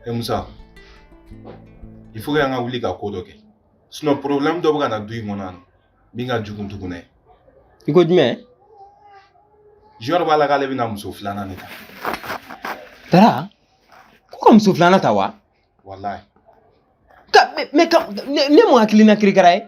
e musa il faut que an ka wuli ka ko dɔ kɛ sinon problème dɔ bɛ ka na du in kɔnɔ yan min ka jugu tugun dɛ i ko jumɛn junior b'a la k'ale bɛna muso filanan de ta tara ko ka muso filanan ta wa walayi mais nin ye mun hakilina kirikara ye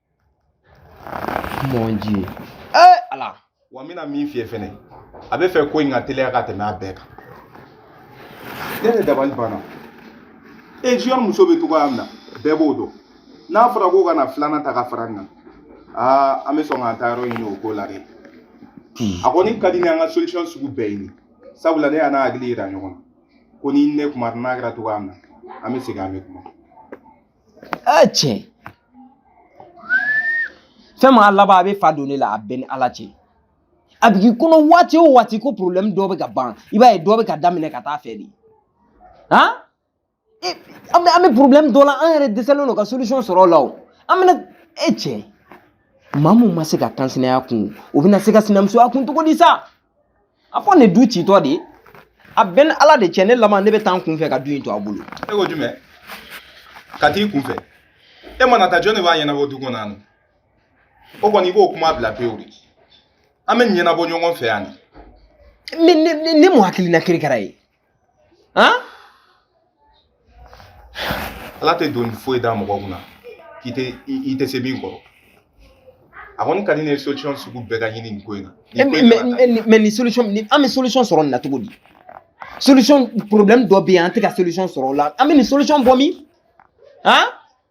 Mon Dieu. Eh ala. Wa n bɛna min f'i ye fɛnɛ a b'a fɛ ko in ka teliya ka tɛmɛ a bɛɛ kan. Ne yɛrɛ dabali banna. E junior muso bɛ cogoya min na bɛɛ b'o dɔn. N'a fɔra ko ka na filanan ta ka fara n kan. Aa an bɛ sɔn k'an taayɔrɔ ɲini o ko la dɛ. A kɔni ka di ni an ka solution sugu bɛɛ ɲini. Sabula ne y'a n'a hakili yira ɲɔgɔn na. Ko ni ne kuma n'a kɛra cogoya min na an bɛ segin an bɛ kuma. ɛ cɛ fɛn min a laban a bɛ fa don ne la a bɛ n ni ala cɛ a bɛ k'i kɔnɔ waati o waati ko porobilɛmu dɔ bɛ ka ban i b'a ye dɔ bɛ ka daminɛ ka taa fɛ de han e, an bɛ an bɛ porobilɛmu dɔ la an yɛrɛ dɛsɛlen don ka solisɔn sɔrɔ o la o an bɛna e cɛ maa mun ma se ka kansinaya kun o bɛna se ka sinamusoya kun cogo di sa a fɔ ne du citɔ de a bɛ n ni ala de cɛ ne laban ne bɛ taa n kunfɛ ka du in to a bolo e ko jumɛn ka t'i kunfɛ e mana taa jɔn de b'a ɲɛnabɔ du kɔnɔ yan o kɔni i b'o kuma bila pewu dɛ an b'a ɲɛnabɔ ɲɔgɔn fɛ yan de nin ye mun hakilina kirikara ye ala tɛ doni foyi da mɔgɔ kun na i tɛ se min kɔrɔ a kɔni ka di ne ye solution sugu bɛɛ ka ɲini nin ko in na. mais nin solution nin an bɛ solution sɔrɔ nin na cogo di solution problème dɔ bɛ yen an tɛ ka solution sɔrɔ o la an bɛ nin solution bɔ min han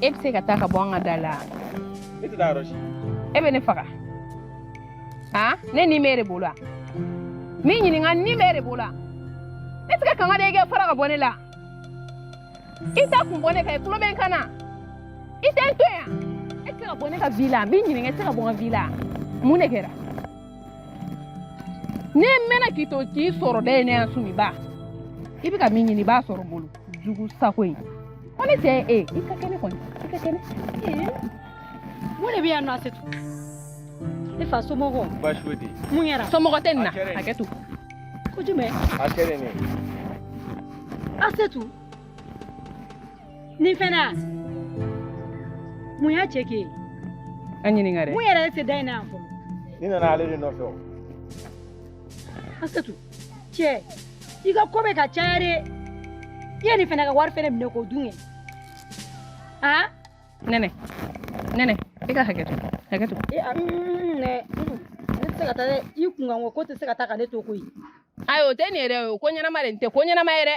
e bɛ se ka taa ka bɔ an ka da la ne tɛ taa yɔrɔ si e bɛ ne faga han ne ni b'e de bolo wa n b'i ɲininka ni b'e de bolo wa e tɛ se ka kanga de i ka fara ka bɔ ne la i t'i kun bɔ ne kan i tulo bɛ n kan na i tɛ n to yan e tɛ se ka bɔ ne ka vie la n b'i ɲininka i tɛ se ka bɔ n ka vie la mun de kɛra ne mɛnna k'i to k'i sɔrɔ dɛ ne yan sumiba i bɛ ka min ɲini i b'a sɔrɔ n bolo jugu sago in Aw ni ce e i ka kɛnɛ kɔni i ka kɛnɛ mun de bɛ yan nɔ Asetu e n fa somɔgɔ baasi foyi tɛ yen mun kɛra somɔgɔ tɛ nin na a kɛ tu ko jumɛn a kɛra nin ye Asetu nin fɛnɛ a mun y'a cɛ kɛ ye a ɲininka dɛ mun yɛrɛ y'a se da in na yan fɔlɔ ne nana ale de nɔfɛ o Asetu cɛ i ka ko bɛ ka caya dɛ i ye nin fana ka wari fana minɛ k'o dun kɛ a nɛnɛ nɛnɛ i ka hakɛ to hakɛ to e a nɛ ne tɛ se ka taa dɛ i kunkanko ko tɛ se ka taa ka ne to koyi ayi o tɛ nin ye dɛ o ko ɲɛnama de nin tɛ ko ɲɛnama ye dɛ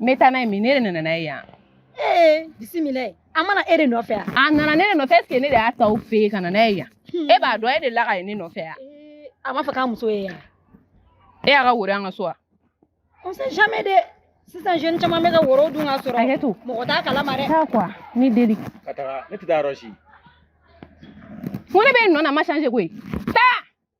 n bɛ taa n'a ye min ne de nana n'a ye yan ee bisimila a ma na e de nɔfɛ yan a nana ne de nɔfɛ est-ce que ne de y'a ta aw fɛ yen ka na n'a ye yan e b'a dɔn e de la ka ye ne nɔfɛ yan a b'a fɛ k'a muso ye yan e y'a ka woro an ka so wa on sait jamais dɛ sisan jeune caman bɛ ka woro dun ka sɔrɔ hakɛ to mɔgɔ t'a kalama dɛ taa quoi n b'i deli ka taga ne tɛ taa yɔrɔ si ko ne bɛ n nɔ na ma changer koyi taa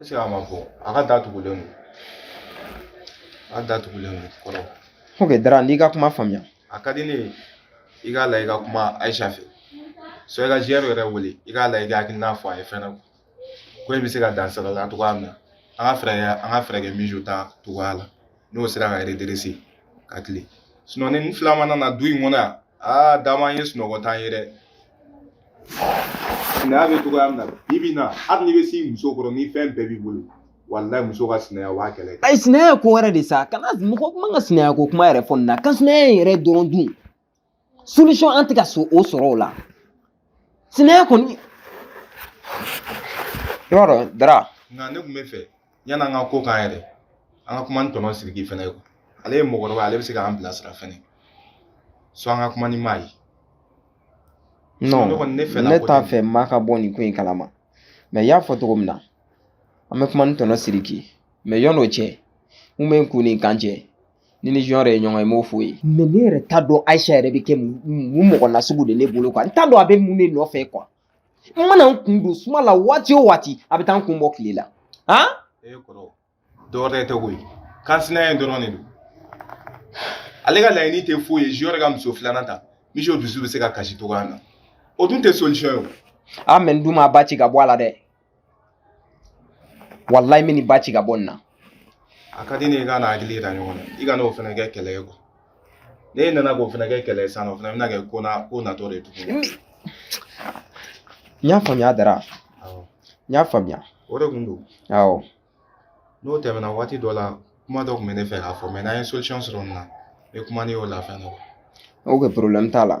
Est-ce que a ma bɔ a ka da tugulen don a ka da tugulen don kɔrɔ ok dara n'i ka kuma faamuya a ka di ne ye i k'a la i ka kuma ayisa fɛ so i ka junior yɛrɛ wele i k'a la i ka hakilina fɔ a ye fɛnɛ ko in bɛ se ka dan sira la cogoya min na an ka fɛɛrɛ kɛ mijo ta cogoya la n'o sera ka redresser ka tilen sinon nin fila mana na du in kɔnɔ yan aa dama ye sunɔgɔ t'an ye dɛ sinaya bɛ cogoya min na bi bi in na hali n'i bɛ s'i muso kɔrɔ ni fɛn bɛɛ b'i bolo walayi muso ka sinaya o b'a kɛlɛ kɛ ayi sinaya ye ko wɛrɛ de sa kana mɔgɔ man ka sinaya ko kuma yɛrɛ fɔ nin na kansinaya in yɛrɛ dɔrɔn dun solution an tɛ ka o sɔrɔ o la sinaya kɔni i b'a dɔn dara nka ne tun b'a fɛ yanni an ka ko k'an yɛrɛ an ka kuma ni tonton siriki fɛnɛ ye ale ye mɔgɔkɔrɔba ale bɛ se k'an bilasira fɛnɛ so an ka kuma ni maa ye non ne t'a fɛ maa ka bɔ nin ko in kalama mais y'a fɔ cogo min na an bɛ kuma ni tonton siriki mais yɔn'o cɛ mun bɛ n kun ni kan cɛ ni n ni junior ye ɲɔgɔn ye n b'o f'o ye mais ne yɛrɛ t'a dɔn ayisa yɛrɛ bɛ kɛ mun mɔgɔ nasugu de ne bolo quoi n t'a dɔn a bɛ mun de nɔfɛ quoi n mana n kun don suma la waati o waati a bɛ taa n kun bɔ tile la han e kɔrɔ dɔwɛrɛ tɛ koyi kansinaya in dɔrɔn de don ale ka laɲini tɛ foyi ye junior ka muso filanan ta mijo dusu bɛ se ka kasi cogoya min na o dun tɛ solution ye o a mais n dun b'a ba ci ka bɔ a la dɛ walayi n bɛ nin ba ci ka bɔ nin na a ka di ne ye i ka na hakili yira ɲɔgɔn na i kan'o fana kɛ kɛlɛ ye quoi n'e nana k'o fana kɛ kɛlɛ ye sisan o fana bɛna kɛ ko na ko natɔ de ye tuguni n y'a faamuya dara awɔ n y'a faamuya o de kun don awɔ n'o tɛmɛna waati dɔ la kuma dɔ tun bɛ ne fɛ k'a fɔ mais n'an ye solution sɔrɔ nin na n bɛ kuma n'i y'o la fɛn dɔ ok problème t'a la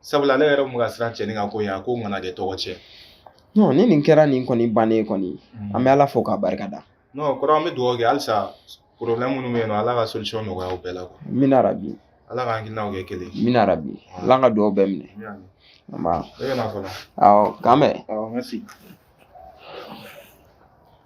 sabula ale yɛrɛ kun ka siran cɛnin ka ko ye a ko kana kɛ tɔgɔtiɲɛ non ni nin kɛra nin kɔni bannen kɔni an bɛ ala fo k'a barika da non kɔrɔ an bɛ dugawu kɛ halisa problème minnu bɛ yen nɔ ala ka solution nɔgɔya o bɛɛ la amina rabi ala ka hakilinaw kɛ kelen amina rabi ala ka dugawu bɛɛ minɛ k'an bɛn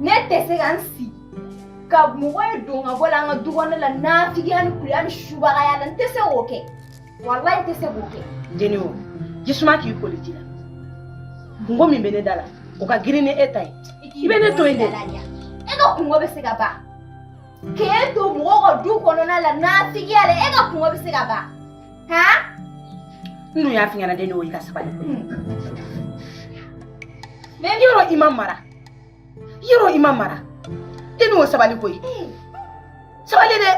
ne tɛ se ka n sigi ka mɔgɔ ye don ka bɔ la an ka du kɔnɔ la nafigiya ni kuliya ni subagaya la n tɛ se k'o kɛ walayi n tɛ se k'o kɛ jeni o jisuma k'i koliji la kunko min bɛ ne da la o ka girin ni e ta ye i bɛ ne to yen dɛ e ka kunko bɛ se ka ban k'e to mɔgɔw ka du kɔnɔna la nafigiya la e ka kunko bɛ se ka ban Ha? N dun y'a f'i ɲɛna deni o i ka sabali koyi. Mɛ yɔrɔ i ma mara yɔrɔ i ma mara deni o sabali koyi. sabali dɛ.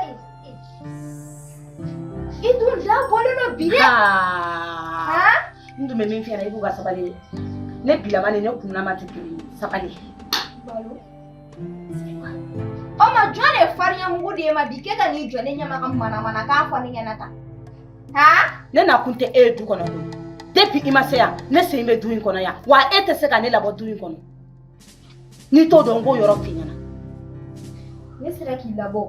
i dun da bɔlen don bi dɛ. Haa. n dun bɛ min f'i ɲɛna i b'u ka sabali dɛ ne bilama ni ne kunnama tɛ kelen ye sabali. Balo. O ma jɔn de ye farinya mugu d'e ma bi k'e ka n'i jɔ ne ɲɛ ma ka manamanakan fɔ ne ɲɛna tan haa ne nakun tɛ e ye du kɔnɔ koyi depuis i ma se yan ne sen bɛ du in kɔnɔ yan wa e tɛ se ka ne labɔ du in kɔnɔ n'i t'o dɔn n k'o yɔrɔ f'i ɲɛna ne sera k'i labɔ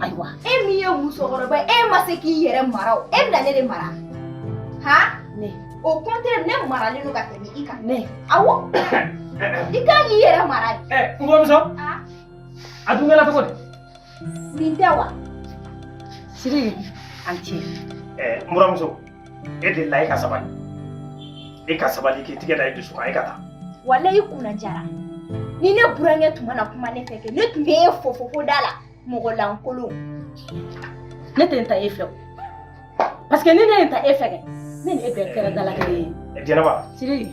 ayiwa e min ye musokɔrɔba ye e ma se k'i yɛrɛ mara o e bɛna ne de mara han ne au contraire ne maralen don ka tɛmɛ i kan ne awɔ i kan k'i yɛrɛ mara de ɛ n buramuso a dun kɛra cogo di nin tɛ wa siriki an tiɲɛ ɛ n buramuso e delila i ka sabali i ka sabali k'i tigɛ da i dusu kan i ka taa walayi i kunna jara ni ne burankɛ tun ma na kuma ne fɛ kɛ ne tun bɛ e fofo fo da la mɔgɔ lankolon ne tɛ n ta e fɛ o parce que ni ne ye n ta e fɛ kɛ ne ni e bɛɛ kɛra dalakɛɲɛ ye jɛnɛba siriki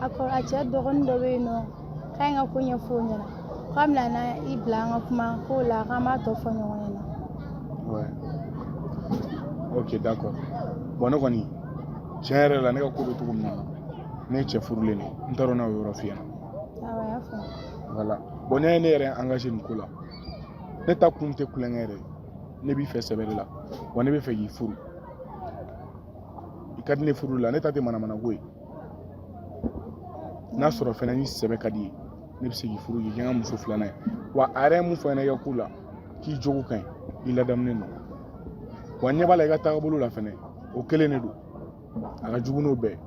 a ko a cɛ dɔgɔnin dɔ bɛ yen nɔ k'a ye n ka ko ɲɛfɔ o ɲɛna k'a bɛna na i bila an ka kuma k'o la k'an b'a tɔ fɔ ɲɔgɔn ɲɛna Ouais. Ok, d'accord. Bon, ne kɔni tiɲɛ yɛrɛ la ne ka ko bɛ cogo min na ne ye cɛ furulen de ye. n t'a dɔn n'a y'o yɔrɔ f'i ɲɛna awɔ a y'a faamu voilà bon ne ye ne yɛrɛ engagé nin ko la ne ta kun tɛ tulonkɛ yɛrɛ ye. ne b'i fɛ sɛbɛ de la wa ne bɛ fɛ k'i furu i ka di ne furu la ne ta tɛ manamanako ye n'a sɔrɔ fɛnɛ ni sɛbɛ ka d'i ye ne bɛ se k'i furu k'i kɛ n ka muso filanan ye wa a yɛrɛ ye min fɔ n ɲɛna i ka ko la k'i jogo ka ɲi i ladamunen don wa ɲɛ b'a la i ka taagabolo la fɛnɛ o kelen de don a ka jugu n'o bɛɛ ye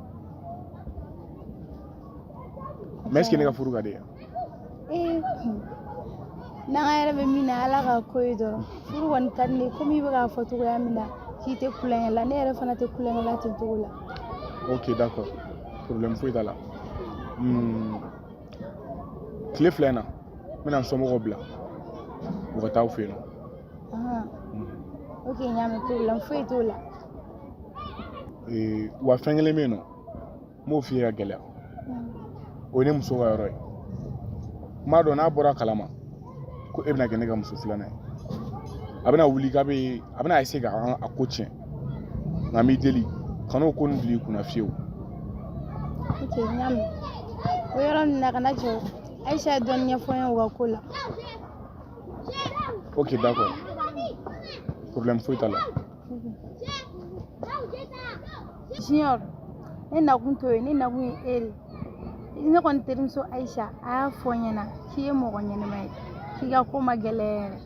mais est-ce que ne ka furu ka d'i ye ee kun n'an ka yɛrɛ bɛ min na ala ka ko ye dɔrɔn furu kɔni ka di ne ye komi i bɛ k'a fɔ cogoya min na k'i tɛ tulonkɛ la ne yɛrɛ fana tɛ tulonkɛ la ten cogo la ok d'accord problème foyi t'a la Hmm. tile fila in na n bɛna n somɔgɔw bila u ka taa aw fɛ yen nɔ Ahan. ok n y'a mɛn problème foyi t'o la Ee, wa fɛn kelen bɛ yen nɔ n b'o f'i ye ka gɛlɛya o ye ne muso ka yɔrɔ ye n b'a dɔn n'a bɔra kalama ko e bɛna kɛ ne ka muso filanan ye a bɛna wuli k'a bɛ a bɛna essayer ka a ko tiɲɛ nka n b'i deli kan'o ko nin bil'i kunna fiyewu n y'a mɛn o yɔrɔ nin na kana jɔ ayisa ye dɔɔni ɲɛfɔ n ye o ka ko la ok d'accord problème foyi t'a la Junior ne nakun t'o ye ne nakun ye e de ye ne kɔni terimuso Ayisa a y'a fɔ n ɲɛna k'i ye mɔgɔ ɲɛnama ye k'i ka ko ma gɛlɛya yɛrɛ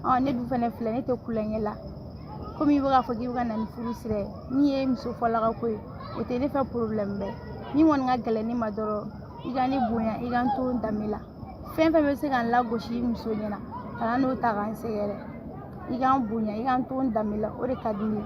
ɔ ne dun fana filɛ ne tɛ kulonkɛ la komi i bɛ k'a fɔ k'i bɛ ka na ni furu sira ye min ye muso fɔlɔ ka ko ye o tɛ ne fɛ problème bɛ min kɔni ka gɛlɛn ne ma dɔrɔn i ka ne bonya i ka n to n danbe la fɛn fɛn bɛ se ka n lagosi i muso ɲɛna kana n'o ta ka n sɛgɛrɛ i ka n bonya i ka n to n danbe la o de ka di ne ye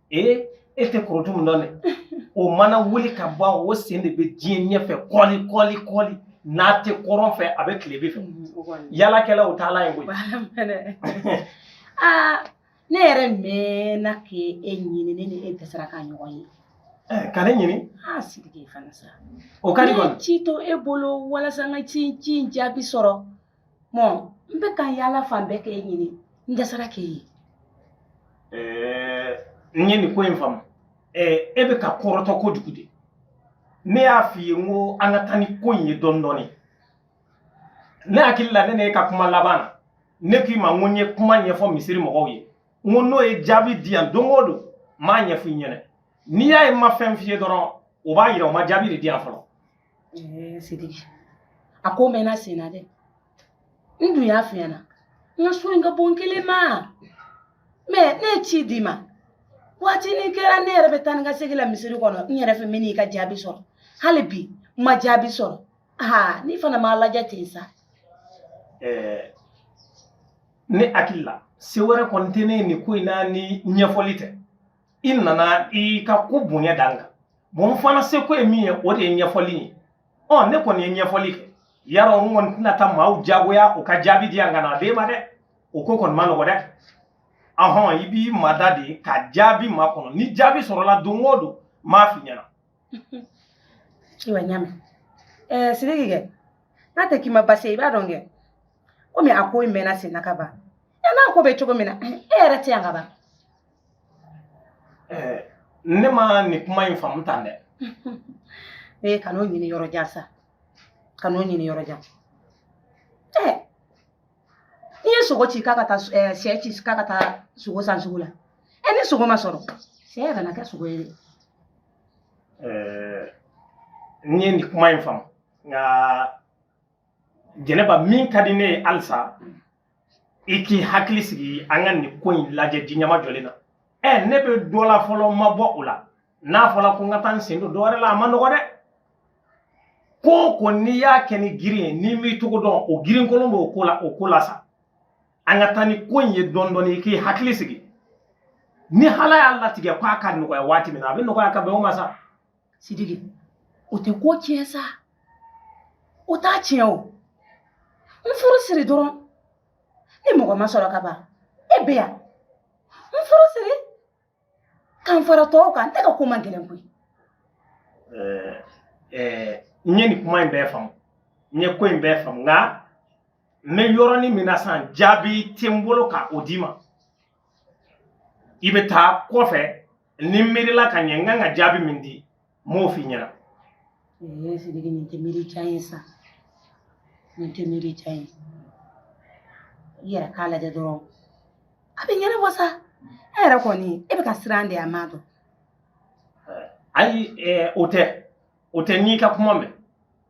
ee e tɛ Korotumu dɔn dɛ o mana wuli ka bɔ o sen de bɛ diɲɛ ɲɛfɛ kɔli kɔli kɔli n'a tɛ kɔrɔn fɛ a bɛ tilebin fɛ yaalakɛla o t'a la yen koyi aa ne yɛrɛ mɛnna k'e ɲini ne ni e dɛsɛra ka ɲɔgɔn ye ka ne ɲini a sidiki fana sa o ka di kɔni ci to e bolo walasa n ka ci ci in jaabi sɔrɔ mɔ n bɛ ka yaala fan bɛɛ k'e ɲini n dɛsɛra k'e ye eh, n ye nin ko in faamu eh, e bɛ ka kɔrɔtɔ kojugu de ne y'a f'i ye n ko an ka taa ni ko in ye dɔɔni dɔɔni ne hakili la ne n'e ka kuma laban na ne k'i ma n ko n ye kuma ɲɛfɔ misiri mɔgɔw ye n ko n'u ye jaabi di yan don o don n b'a ɲɛfɔ i ɲɛna n'i y'a ye n ma fɛn f'i ye dɔrɔn o b'a yira u ma jaabi de di yan fɔlɔ ɛɛ sidiki a ko mɛnna sen na dɛ n dun y'a f'i ɲɛna n ka so in ka bon n kelen ma mais ne ye ci d'i ma waati ni kɛra ne yɛrɛ bɛ taa ni ka segin la misiri kɔnɔ n yɛrɛ fɛ min n'i ka jaabi sɔrɔ hali bi n ma jaabi sɔrɔ aa n'i fana m'a lajɛ ten sa. ɛɛ ne hakili la se wɛrɛ kɔni tɛ ne ye nin ko in na ni ɲɛfɔli tɛ. i nana i ka ko bonya da n kan bon fana seko ye min ye o de ye ɲɛfɔli ye ɔ ne kɔni ye ɲɛfɔli kɛ yarɔ n kɔni tɛna taa maaw jagoya u ka jaabi di yan ka na a d'e ma dɛ o ko kɔni man nɔgɔ dɛ ahɔn i b'i mada de ka jaabi makɔnɔ ni jaabi sɔrɔla don o don n b'a f'i ɲɛna ayiwa n y'a mɛn ɛɛ sidiki kɛ n'a tɛ k'i ma baasi ye i b'a dɔn kɛ komi a ko in mɛnna senna ka ban ɛ n'a ko bɛ cogo min na e yɛrɛ tɛ yan ka ban Eh, ne ma nin kuma in faamu tan dɛ ee eh, kan'o ɲini yɔrɔ jan sa kan'o ɲini yɔrɔ jan ɛ eh, n'i ye sogo ci k'a ka taa eh, sɛ ci k'a ka taa sogo san sugu la ɛ ni sogo ma sɔrɔ sɛ yɛrɛ na kɛ sogo ye dɛ n ye nin kuma in faamu nka jɛnɛba min ka di ne ye halisa i k'i hakili sigi an ka nin ko in lajɛ ji ɲɛmajɔlen na ɛ ne bɛ dɔ la fɔlɔ ma bɔ o la n'a fɔla ko n ka taa n sen don dɔ wɛrɛ la a ma nɔgɔ dɛ ko o ko n'i y'a kɛ ni girin ye n'i m'i cogo dɔn o girin kolon b'o ko la o ko la sa an ka taa ni ko in ye dɔɔni dɔɔni i k'i hakili sigi ni ala y'a latigɛ k'a ka nɔgɔya waati min na a bɛ nɔgɔya ka bɛn o ma sa sidiki o tɛ ko tiɲɛ sa o t'a tiɲɛ o n furu siri dɔrɔn ni mɔgɔ ma sɔrɔ ka ban e bɛ yan n furu siri ka n fara tɔw kan ne ka ko man gɛlɛn koyi n ye nin kuma in bɛɛ faamu n ye ko in bɛɛ faamu nka n bɛ yɔrɔnin min na sisan jaabi tɛ n bolo ka o d'i ma i bɛ taa kɔfɛ ni n miirila ka ɲɛ n kan ka jaabi min di n b'o f'i ɲɛna ee sidiki nin tɛ miiri jan ye sa nin tɛ miiri jan ye i yɛrɛ k'a lajɛ dɔrɔn a bɛ ɲɛnabɔ sa e yɛrɛ kɔni e bɛ ka siran de a m'a dɔn ayi eh, o tɛ o tɛ n'i ka kuma mɛn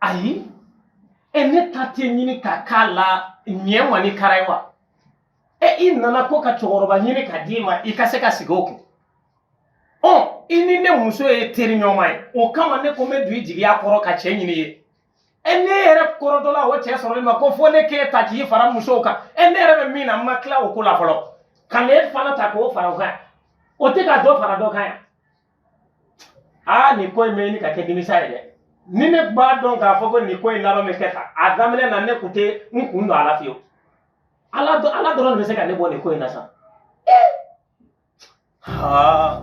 ayi ɛ ne ta tɛ ɲini ka k'a la ɲɛ ma ni kara ye wa ɛ i nana ko ka cɛkɔrɔba ɲini ka d'i ma i ka se ka sigi o kun ɔ i ni ne muso ye teri ɲɔgɔn ye o kama ne ko n bɛ don i jigiya kɔrɔ ka cɛ ɲini i ye ɛ ne yɛrɛ kɔrɔtɔla o cɛ sɔrɔli ma ko fo ne k'e ta k'i fara musow kan ɛ ne yɛrɛ bɛ min na n ma tila o ko la fɔlɔ ka n'e fana ta k'o fara o kan o tɛ ka dɔ fara dɔ kan yan aa nin ko in bɛ ɲini ka kɛ nimisa ye dɛ ni ne b'a dɔn k'a fɔ ko nin ko in laban bɛ kɛ tan a daminɛ na ne tun tɛ n kun don a la fiyewu ala dɔ ala dɔrɔn de bɛ se ka ne bɔ nin ko in na sa haa.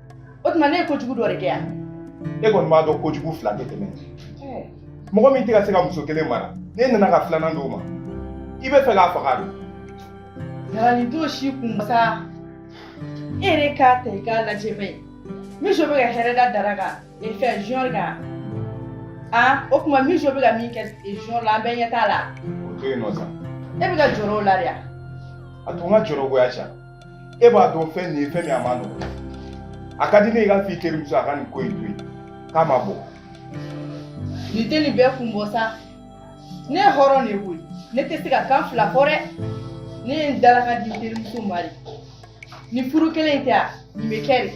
o tuma ne ye kojugu dɔ de kɛ yan e kɔni b'a dɔn kojugu fila tɛ tɛmɛ mɔgɔ min tɛ ka se ka muso kelen mara n'e nana ka filanan d'o ma i bɛ fɛ k'a faga de jalani t'o si kun sa e yɛrɛ k'a ta i k'a lajɛ bɛ miso bɛ ka hɛrɛ da dara kan e fɛ jɔn kan a o tuma miso bɛ ka min kɛ jɔn la an bɛɛ ɲɛ t'a la o to yen nɔ sa e bɛ ka jɔrɔ o la de wa a to n ka jɔrɔgoya sa e b'a dɔn fɛn nin ye fɛn min a man nɔgɔn a ka di ne ye i ka f'i terimuso a ka nin ko in to yen k'a mabɔ nin tɛ nin bɛɛ kun bɔ sa ne ye hɔrɔn de ye koyi ne tɛ se ka kan fila fɔ dɛ ne ye n dalakan di terimuso ma de nin furu kelen in tɛ a nin bɛ kɛ de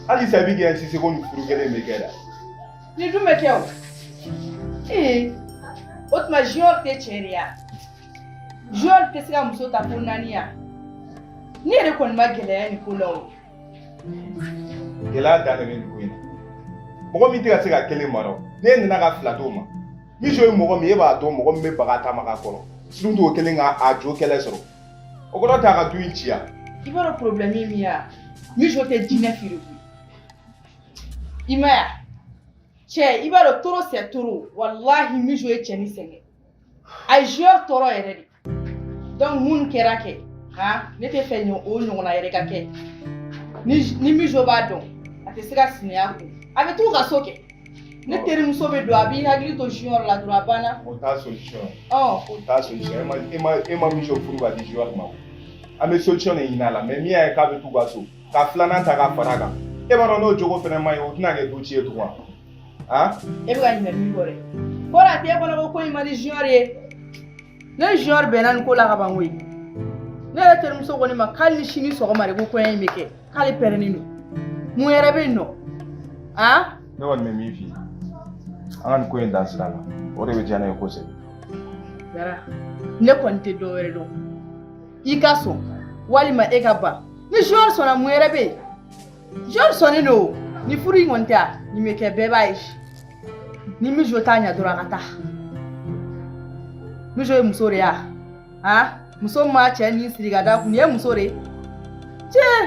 halisa i bɛ k'i insister ko nin furu kelen in bɛ kɛ da nin dun bɛ kɛ o ee o tuma junior tɛ cɛ de ye wa junior tɛ se ka muso ta ko naani ya ne yɛrɛ kɔni ma gɛlɛya nin ko la o gɛlɛya dan de bɛ nin ko in na mɔgɔ min tɛ ka se ka kelen mara o n'e nana ka fila d'o ma mijo ye mɔgɔ min e b'a dɔn mɔgɔ min bɛ baga taama ka kɔrɔ surtout o kelen ka a jo kɛlɛ sɔrɔ o kɔrɔ t'a ka du in ci ya i b'a dɔn problème ye min ye wa mijo tɛ diɲɛ feere koyi i m'a ye cɛ i b'a dɔn trop c'est trop walahi mijo ye cɛnin sɛgɛn a ye junior tɔɔrɔ yɛrɛ de donc mun kɛra kɛ han ne t'a fɛ ɲɔ o ɲɔgɔnna yɛrɛ ka kɛ ni ni mijo b'a dɔn a tɛ se ka sinaya kun a bɛ t'u ka so kɛ ne terimuso bɛ don a b'i hakili to junior la dɔrɔn a banna o t'a solution ɔ o t'a solution e ma e ma e ma mijo furu ka di junior ma o an bɛ solution de ɲini a la mais min y'a ye k'a bɛ t'u ka so ka filanan ta ka fara a kan e b'a dɔn n'o jogo fana man ɲi o tɛna kɛ du ci ye tugun wa aa e bɛ ka ɲinɛ min kɔ dɛ ko la t'e kɔnɔ ko ko in man di junior ye ne ni junior bɛnna nin ko la ka ban koyi ne yɛrɛ terimuso ko ne ma k'ale ni sini sɔgɔma de ko kɔɲɔ in bɛ kɛ k'ale pɛrɛnnen don mun yɛrɛ bɛ yen nɔ aa ne kɔni bɛ min f'i ye an ka nin ko in dan sira la o de bɛ diya ne ye kosɛbɛ dara ne kɔni tɛ dɔ wɛrɛ dɔn i ka sɔn walima e ka ban ni junior sɔnna mun yɛrɛ bɛ yen junior sɔnnen don ni furu in kɔni tɛ a nin bɛ kɛ bɛɛ b'a ye ni mijo t'a ɲɛ dɔrɔn a ka taa mijo ye muso de ye a han muso min b'a cɛ ni siri ka da kun nin ye muso de ye tiɲɛ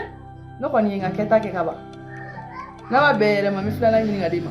ne kɔni ye n ka kɛta kɛ ka ban n'a ma bɛn yɛrɛ ma n bɛ filanan ɲini ka d'i ma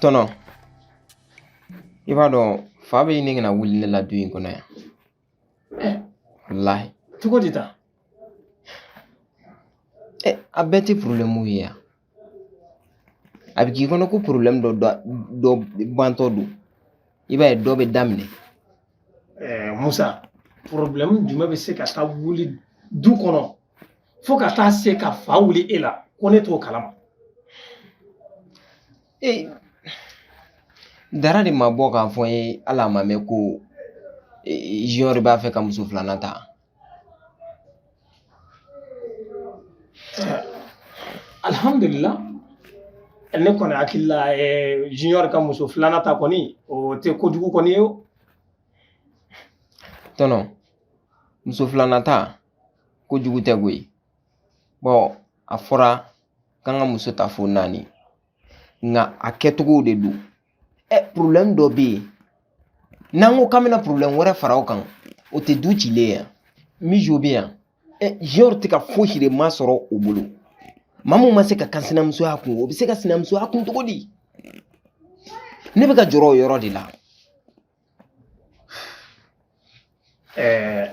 Tɔnɔ i b'a dɔn fa bɛ ɲini ka na wuli ne la du in kɔnɔ yan eh. walahi cogo di tan eh, a bɛɛ tɛ porobilɛmu ye yan a bɛ k'i kɔnɔ ko porobilɛmu dɔ dɔ bantɔ don i b'a ye dɔ bɛ daminɛ eh, musa porobilɛmu jumɛn bɛ se ka taa wuli du kɔnɔ fo ka taa se ka fa wuli e la ko ne t'o kalama ee dara de ma bɔ k'a fɔ n ye hali a ma mɛɛn ko junior b'a fɛ ka muso filanan ta alhamdulillah ne kɔni hakili la junior ka muso filanan ta kɔni o tɛ kojugu kɔni ye o tɔnɔ muso filanan ta kojugu tɛ koyi bɔn a fɔra k'an ka muso ta fo naani nka a kɛcogow de don ɛ porobilɛmu dɔ bɛ yen n'an ko k'an bɛna porobilɛmu wɛrɛ fara o kan o tɛ du cilen ye yan mijo bɛ yan junior tɛ ka fosi de ma sɔrɔ o bolo maa min ma se ka kansinamusoya kun o bɛ se ka sinamusoya kun cogo di ne bɛ ka jɔrɔ o yɔrɔ de la eh,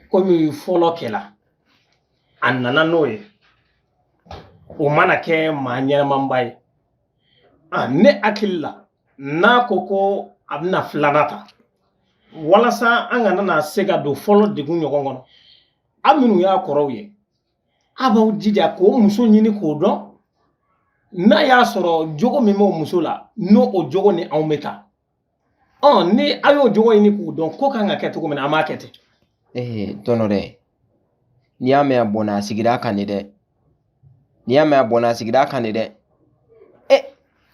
komi fɔlɔ kɛla a nana n'o ye o mana kɛ maa ɲɛnamaba ye ah, ne hakili la n'a ko ko a bɛna filanan ta walasa an kana na se ka don fɔlɔ degun ɲɔgɔn kɔnɔ a minnu y'a kɔrɔw ye A b'aw jija k'o muso ɲini k'o dɔn n'a y'a sɔrɔ jogo min b'o muso la n'o o jogo ni anw bɛ taa ɔ ni a y'o jogo ɲini k'o dɔn ko kan ka kɛ cogo min na an b'a kɛ ten ee tɔnɔ dɛ n'i y'a mɛn a bɔnna a sigira a kan de dɛ n'i y'a mɛn a bɔnna a sigira a kan de dɛ ɛ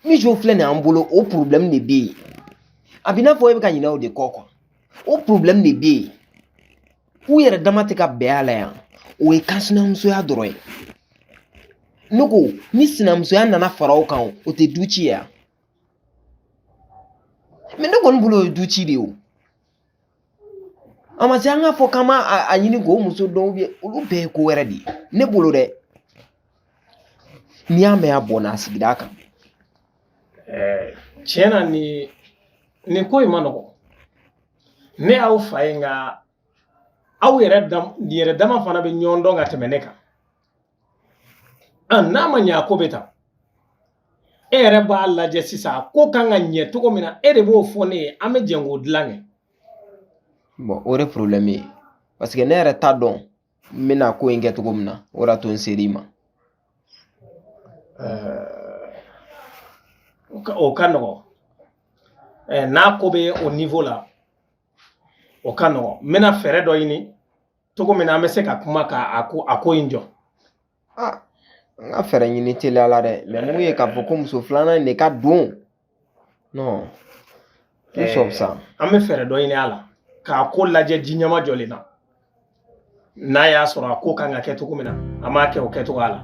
mijo filɛ nin y'an bolo o porobilɛmu de bɛ yen a b'i n'a fɔ e bɛ ka ɲinɛ o de kɔ kuwa o porobilɛmu de bɛ yen u yɛrɛ dama tɛ ka bɛn a la yan o ye kansinamusoya dɔrɔn ye ne ko ni sinamusoya nana fara o kan o tɛ du ci ya mɛ ne kɔni bolo o ye du ci de ye o a ma se an k'a fɔ k'an b'a ɲini k'o muso dɔn olu bɛɛ ye ko wɛrɛ de ye ne bolo dɛ n'i y'a mɛn a bɔnna a sigida kan tiɲɛ na nin ko in ma nɔgɔn ne y'aw fa ye nka aw yɛrɛ dama fana bɛ ɲɔgɔn dɔn ka tɛmɛ ne kan n'a ma ɲɛ a ko bɛ tan e yɛrɛ b'a lajɛ sisan a ko kan ka ɲɛ cogo min na e de b'o fɔ ne ye an bɛ jɛn k'o dilan kɛ o de porobilɛmu ye paseke ne yɛrɛ t'a dɔn n bɛna ko in kɛ cogo min na o de y'a to n ser'i ma o ka nɔgɔn n'a ko bɛ o nivo la o ka nɔgɔn n bɛna fɛɛrɛ dɔ ɲini cogo min na an bɛ se ka kuma ka a ko in jɔ an ka fɛɛrɛ ɲini teliya la dɛ mɛ mun ye k'a fɔ ko muso filanan in de ka don non tout sauf ça an bɛ fɛɛrɛ dɔ ɲini a la k'a ko lajɛ ji ɲɛmajɔlen na n'a y'a sɔrɔ a ko kan ka kɛ cogo min na an b'a kɛ o kɛcogoya la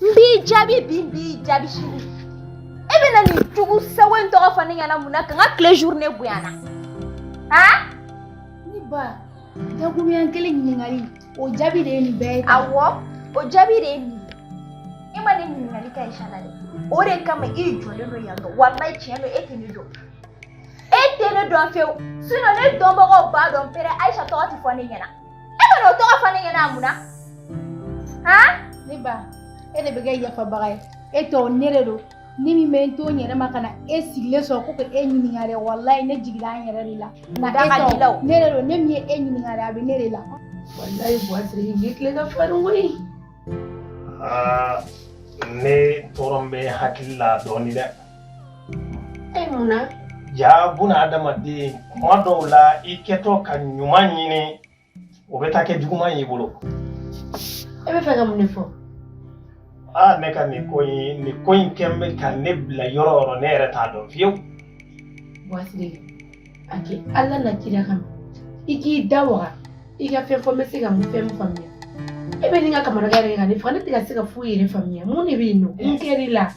n b'i jaabi bi n b'i jaabi sini e bɛna nin jugu sago in tɔgɔ fɔ ne ɲɛna mun na ka n ka tile journée goya n na han ne ba dakuruɲɛ kelen ɲininkali o jaabi de ye nin bɛɛ ye awɔ o jaabi de ye nin ye e ma ne ɲininkali kɛ ayisa la dɛ o de kama i jɔlen don yan nɔ walayi tiɲɛ don e tɛ ne dɔn e tɛ ne dɔn fewu sinɔn ne dɔnbagaw b'a dɔn pɛrɛ ayisa tɔgɔ tɛ fɔ ne ɲɛna e bɛna o tɔgɔ fɔ ne ɲɛna mun na han ne ba e de bɛ kɛ yafabaga ye e tɛ wo ne de don ne min bɛ n to n yɛrɛ ma ka na e sigilen sɔrɔ ko ka e ɲininka dɛ walayi ne jiginna n yɛrɛ de la nka da e ka di la o. e tɛ wo ne de don ne min ye e ɲininka dɛ a bɛ ne de la walayi buwasiri nin tile ka farin koyi Aa ne tɔɔrɔlen bɛ hakili la dɔɔnin dɛ e mun na ja buna adamaden kuma dɔw la i kɛtɔ ka ɲuman ɲini o bɛ taa kɛ juguman y'i bolo e bɛ fɛ ka mun de fɔ aa ne ka nin ko in nin ko in kɛlen bɛ ka ne bila yɔrɔ yɔrɔ ne yɛrɛ t'a dɔn fiyewu buwasiri a kɛ ala n'a kira kama i k'i da waga i ka fɛn fɔ n bɛ se ka mun fɛn min faamuya e bɛ ɲini ka kamanagan yɛrɛ ka ne faga ne tɛ ka se ka foyi yɛrɛ faamuya mun de bɛ yen nɔ mun kɛr'i la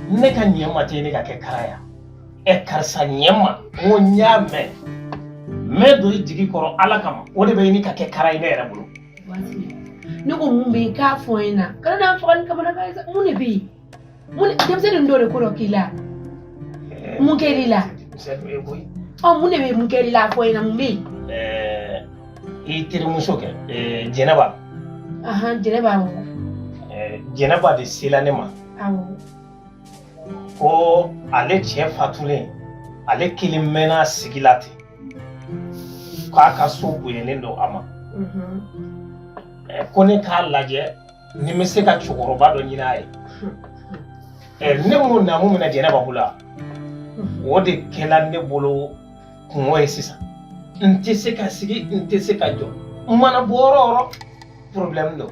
ne ka ɲɛ ma tɛ ɲini ka kɛ kara ya ɛ karisa ɲɛ n ma n ko n y'a mɛn n bɛ don i jigi kɔrɔ ala kama o de bɛ ɲini ka kɛ kara ye ne yɛrɛ bolo ne ko mun bɛ yen k'a fɔ n ɲɛna kana na n faga ni kamanagan ye sa mun de bɛ yen mun denmisɛnnin dɔ de ko dɔ k'i la mun kɛr'i la ɔ mun de bɛ mun kɛr'i la a fɔ n ɲɛna mun bɛ yen. i terimuso kɛ jɛnɛba. jɛnɛba awɔ. jɛnɛba de sela ne ma. awɔ. ko ale cɛ fatulen ale kelen mɛnna sigi la ten k'a ka so bonyalen don a ma. ko ne k'a lajɛ ni n bɛ se ka cɛkɔrɔba dɔ ɲini a ye ɛ ne m'o naamu minɛ jɛnɛba bolo la o de kɛla ne bolo kungo ye sisan n tɛ se ka sigi n tɛ se ka jɔ n mana bɔ yɔrɔ o yɔrɔ porobilɛmu don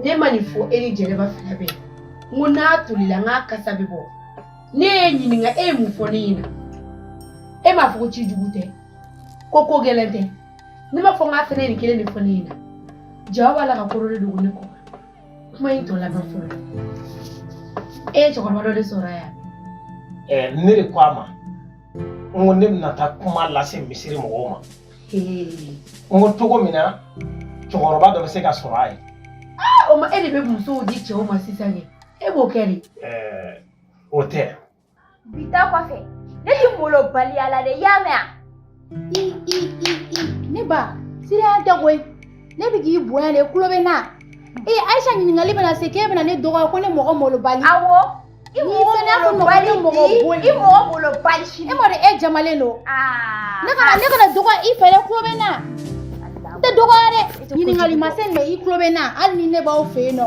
ne ma nin fɔ e ni jɛnɛba fila bɛɛ n ko n'a tolila n k'a kasa bɛ bɔ ne y'e ɲininka e ye mun fɔ ne ɲɛna e m'a fɔ ko ci jugu tɛ ko ko gɛlɛn tɛ ne m'a fɔ n k'a fɛnɛ nin kelen de fɔ ne ɲɛna jaa aw b'a la ka ko dɔ de dogo ne kɔ kuma in tɔ lamɛn fɔlɔ e ye cɛkɔrɔba dɔ de sɔrɔ a ye eh, ne de ko a ma n ko ne bɛna taa kuma lase misiri mɔgɔw ma n ko cogo min na cɛkɔrɔba dɔ bɛ se ka sɔrɔ a ye o ma e de bɛ musow di cɛw ma sisan kɛ e b'o kɛ de eh, o tɛ Bi ta kɔfɛ ne tɛ malobaliya la dɛ i y'a mɛn i i i i ne ba siranya tɛ koyi ne bɛ k'i bonya de kulo bɛ n na ee ayisa ɲininkali bɛna se k'e bɛna ne dɔgɔya ko ne mɔgɔ malobali awɔ i mɔgɔ malobali i mɔgɔ malobali e m'a dɔn e jamalen don ne kana ne kana dɔgɔ i fɛ dɛ kulo bɛ n na n tɛ dɔgɔya dɛ ɲininkali ma se nin ma i kulo bɛ n na hali ni ne b'aw fɛ yen nɔ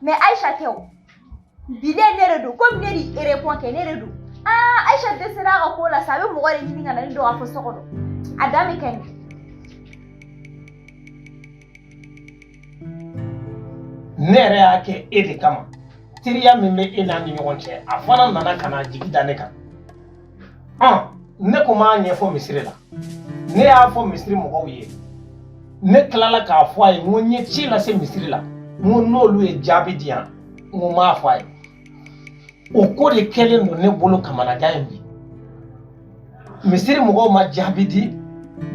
mɛ ayisa tɛ o bilen ne de don komi ne de ye erepɔn kɛ ne de don aa ayisa dɛsɛra a ka ko la sa a bɛ mɔgɔ de ɲini ka na ne dɔn k'a fɔ so kɔnɔ a da bɛ kɛ nin ne yɛrɛ y'a kɛ e de kama teriya min bɛ e n'a ni ɲɔgɔn cɛ a fana nana ka na jigi da ne kan Aa ne ko n b'a ɲɛfɔ misiri la ne y'a fɔ misiri mɔgɔw ye ne tilala k'a fɔ a ye n ko n ye ci lase misiri la n ko n'olu ye jaabi di yan n ko n b'a fɔ a ye o ko de kɛlen don ne bolo kamanagan in bi misiri mɔgɔw ma jaabi di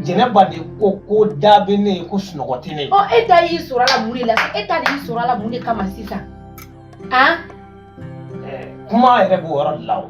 jɛnɛba de ko ko da bɛ ne ye ko sunɔgɔ tɛ ne ye. ɔ e ta y'i sɔrɔ a la mun de la e ta de y'i sɔrɔ a la mun de kama sisan. an. kuma yɛrɛ b'o yɔrɔ de la o.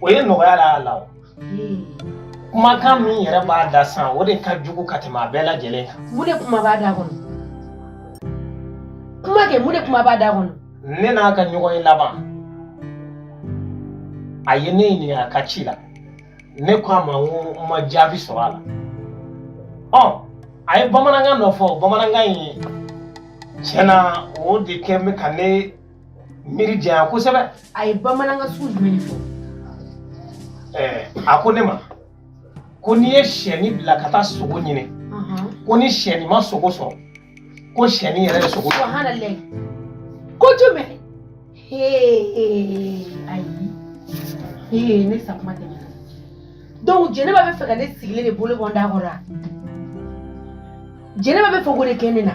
o ye nɔgɔya la a la o kumakan min yɛrɛ b'a da san o de ka jugu ka tɛmɛ a bɛɛ lajɛlen kan mun de kuma b'a da kɔnɔ kuma kɛ mun de kuma b'a da kɔnɔ ne n'a ka ɲɔgɔn ye laban a ye ne ɲininka a ka ci la ne ko a ma n ko n ma jaabi sɔrɔ a la ɔ a ye bamanankan dɔ fɔ bamanankan in tiɲɛ na o de kɛ bɛ ka ne miiri janya kosɛbɛ a ye bamanankan sugu jumɛn de fɔ ɛɛ a ko ne ma ko n'i ye siyɛni bila ka taa sogo ɲini ko ni siyɛni ma sogo sɔrɔ ko siyɛni yɛrɛ ye sogo subahanalahi ko jumɛn ayi ee ne sakuma tɛ donc jɛnɛba bɛ fɛ ka ne sigilen de bolo bɔ n da kɔrɔ wa jɛnɛba bɛ fɛ k'o de kɛ ne na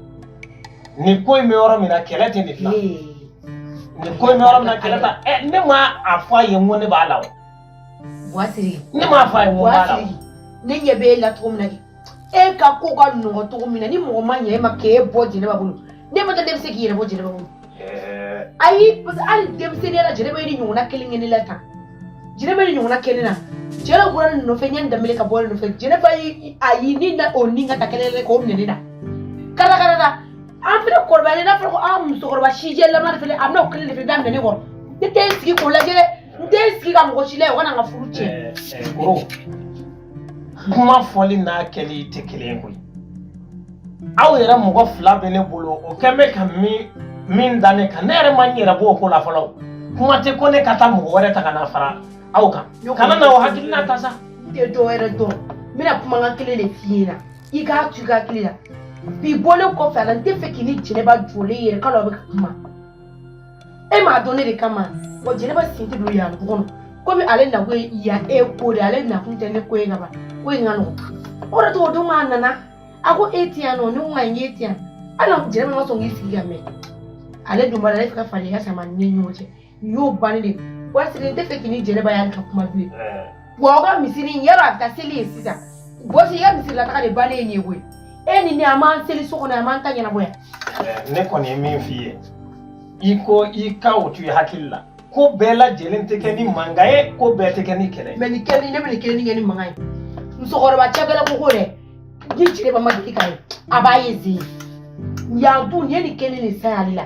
nin ko in bɛ yɔrɔ min na kɛlɛ tɛ nin dilan nin ko in bɛ yɔrɔ min na kɛlɛ t'a ɲɛ ne ma a fɔ a ye n ko ne b'a la o Buwasiri ne m'a fɔ a ye n ko n b'a la o Buwasiri ne ɲɛ bɛ e la cogo min na de e ka ko ka nɔgɔ cogo min na ni mɔgɔ ma ɲɛ e ma k'e bɔ jɛnɛba bolo ne ma da n'e bɛ se k'i yɛrɛ bɔ jɛnɛba bolo ayi parce que hali denmisɛnninya la jɛnɛba ye nin ɲɔgɔnna kelen kɛ ne la tan jɛnɛba ye nin ɲɔgɔnna kɛ ne na jɛnɛba bɔra ne nɔfɛ n ye n danbele ka bɔ ne nɔfɛ jɛnɛba ye a ye ne na o ni ka taa kɛlɛ kɛ k'o minɛ ne na kala kala la an fɛnɛ kɔrɔbayalen n'a fɔra ko an musokɔrɔba sijɛlama de fɛnɛ a bɛna o kelen de fɛnɛ daminɛ ne kɔrɔ ne tɛ n sigi k'o lajɛ dɛ n tɛ n sigi ka mɔgɔ si lajɛ o kana n ka furu tiɲɛ koro kuma fɔli n'a kɛli tɛ kelen ye koyi aw yɛrɛ mɔgɔ fila bɛ ne bolo o kɛn bɛ ka min da ne kan ne yɛrɛ ma n yɛrɛ b'o ko la fɔlɔ kuma tɛ ko ne ka taa mɔgɔ wɛrɛ ta ka na fara aw kan kana na o hakilina ta sa n tɛ dɔ wɛrɛ dɔn n bɛna kumakan kelen de f'i ɲɛna i k'a to i ka hakili la bi bɔlen kɔfɛ a la n tɛ fɛ k'i ni jɛnɛba jɔlen yɛrɛ k'a dɔn a bɛ ka kuma e m'a dɔn ne de kama wa jɛnɛba sen tɛ don yan tugun komi ale nakun ye yan e ko de ale nakun tɛ ne ko ye kaban ko in ka nɔgɔn o de tɔgɔ don k'a nana a ko e ti yan nɔ ne ko ka n ye ti yan hali jɛnɛba ma sɔn k'i sigi ka mɛn ale dun b'a la ale fɛ ka falen ka sama ni ɲɔgɔn cɛ nin y'o bannen de ye wa sini n tɛ fɛ k'i ni jɛnɛba y'ale ka kuma bilen Wa aw ka misiri in yɔrɔ a bɛ taa seli yen sisan bɔsi i ka misiri la taga de bannen ye nin ye koyi e ni ne an b'an seli so kɔnɔ an b'an ta ɲɛnabɔ yan. Ɛɛ, ne kɔni ye min f'i ye i ko i ka o to i hakili la ko bɛɛ lajɛlen tɛ kɛ ni mankan ye ko bɛɛ tɛ kɛ ni kɛlɛ ye. mais nin kelen ne bɛ nin kelen in kɛ ni mankan ye musokɔrɔba cɛbɛlɛ ko ko dɛ ni jɛnɛba ma deli ka ye a b'a ye zen yan dun nin ye nin kelen nin san y'ale la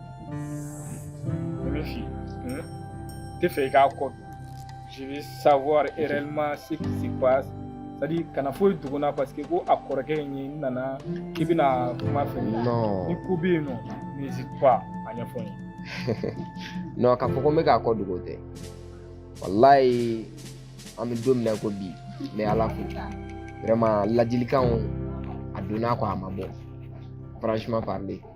tɛ fɛ i k'a kɔ je veux savoir réellement ce qui se passe c'est à dire kana foyi dogo n na parce que ko a kɔrɔkɛ in ye n nana k'i bɛna kuma fɛ ni ko bɛ yen nɔ n'hésite pas a ɲɛfɔ n ye non k'a fɔ ko n bɛ ka ko dogo tɛ walayi an bɛ don min na ko bi n bɛ ala fo vraiment ladilikanw a donna a kɔ a ma bɔ franchement parler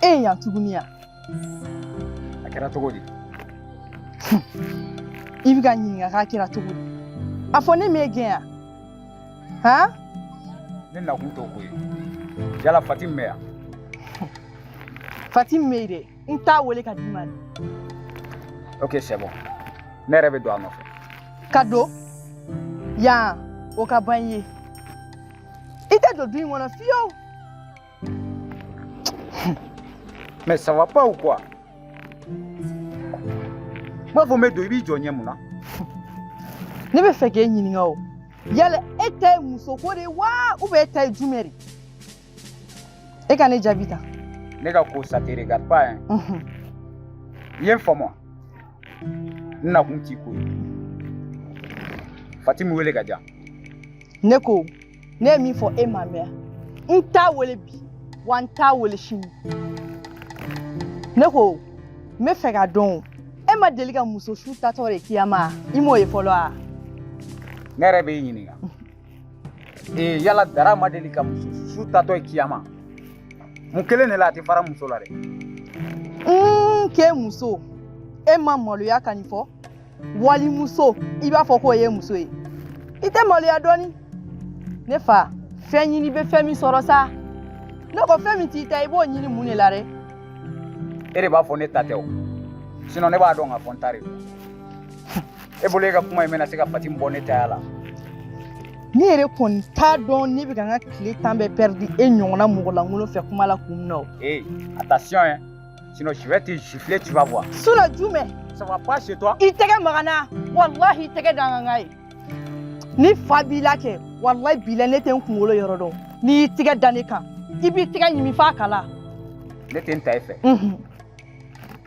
Eh, yan tuguni ya a kɛra cogo di i bɛ ka ɲininka k'a kɛra cogo di a fɔ ne m'e gɛn yan han ne nakun t'o ko ye yala fatimi bɛ yan fatimi bɛ yen dɛ n t'a wele ka d'i ma dɛ ok c'est bon ne yɛrɛ bɛ don a nɔfɛ ka don yan o ka ban i ye i tɛ don du in kɔnɔ fiyewu mais ça va pas ou quoi n b'a fɔ n bɛ don i b'i jɔ n ɲɛ mun na ne bɛ fɛ k'e ɲininka o yala e ta ye musoko de ye wa ou bien e ta ye jumɛn de ye e ka ne jaabi ta ne ka ko ça te regarde pas hein Mhm. i ye n faamu n nakun t'i ko ye fatimi wele ka di yan ne ko ne ye min fɔ e ma mɛn n t'a wele bi wa n t'a wele sini ne ko n bɛ fɛ ka dɔn o, e ma deli ka muso su taatɔ de kiyama i m'o ye fɔlɔ wa ne yɛrɛ b'i ɲininka ee yala dara ma deli ka muso su tatɔ ye kiyama mun kelen de la a tɛ fara muso la dɛ k'e muso e ma maloya ka nin fɔ walimuso i b'a fɔ k'o y'i muso ye i tɛ maloya dɔɔni ne fa fɛn ɲini bɛ fɛn min sɔrɔ sa ne ko fɛn min t'i ta i b'o ɲini mun de la dɛ e de b'a fɔ ne ta tɛ o sinon ne b'a dɔn ka fɔ n ta de don e bolo e ka kuma in bɛna se ka fati bɔ ne taya la ne yɛrɛ kɔni t'a dɔn ne bɛ ka n ka tile tan bɛɛ pɛridi e ɲɔgɔnna mɔgɔ lankolon fɛ kuma la kun min na o ee attention hein sinon je vais te gifler tu vas voir suna jumɛn ça va pas chez toi i tɛgɛ maga n na walahi i tɛgɛ da n kan n k'a ye ni fa b'i la kɛ walahi bi la ne tɛ n kunkolo yɔrɔ dɔn n'i y'i tɛgɛ da ne kan i b'i tɛgɛ ɲimi f'a kala ne tɛna taa e fɛ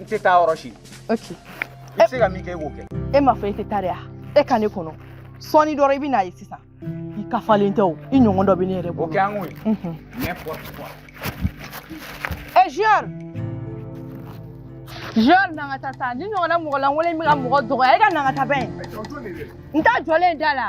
n tɛ taa yɔrɔ si ok i bɛ se ka min kɛ i b'o kɛ e m'a fɔ e tɛ taa de wa e ka ne kɔnɔ sɔɔni dɔrɔn i bɛn'a ye sisan i ka fa nin tɛ o i ɲɔgɔn dɔ bɛ ne yɛrɛ o bolo kɛ an k'o ye Mhm. n'importe quoi e junior junior n'an ka taa sa nin ɲɔgɔnna mɔgɔ lankolon in bɛ ka mɔgɔ dɔgɔya e ka n'an ka taa bɛn n t'a jɔlen da la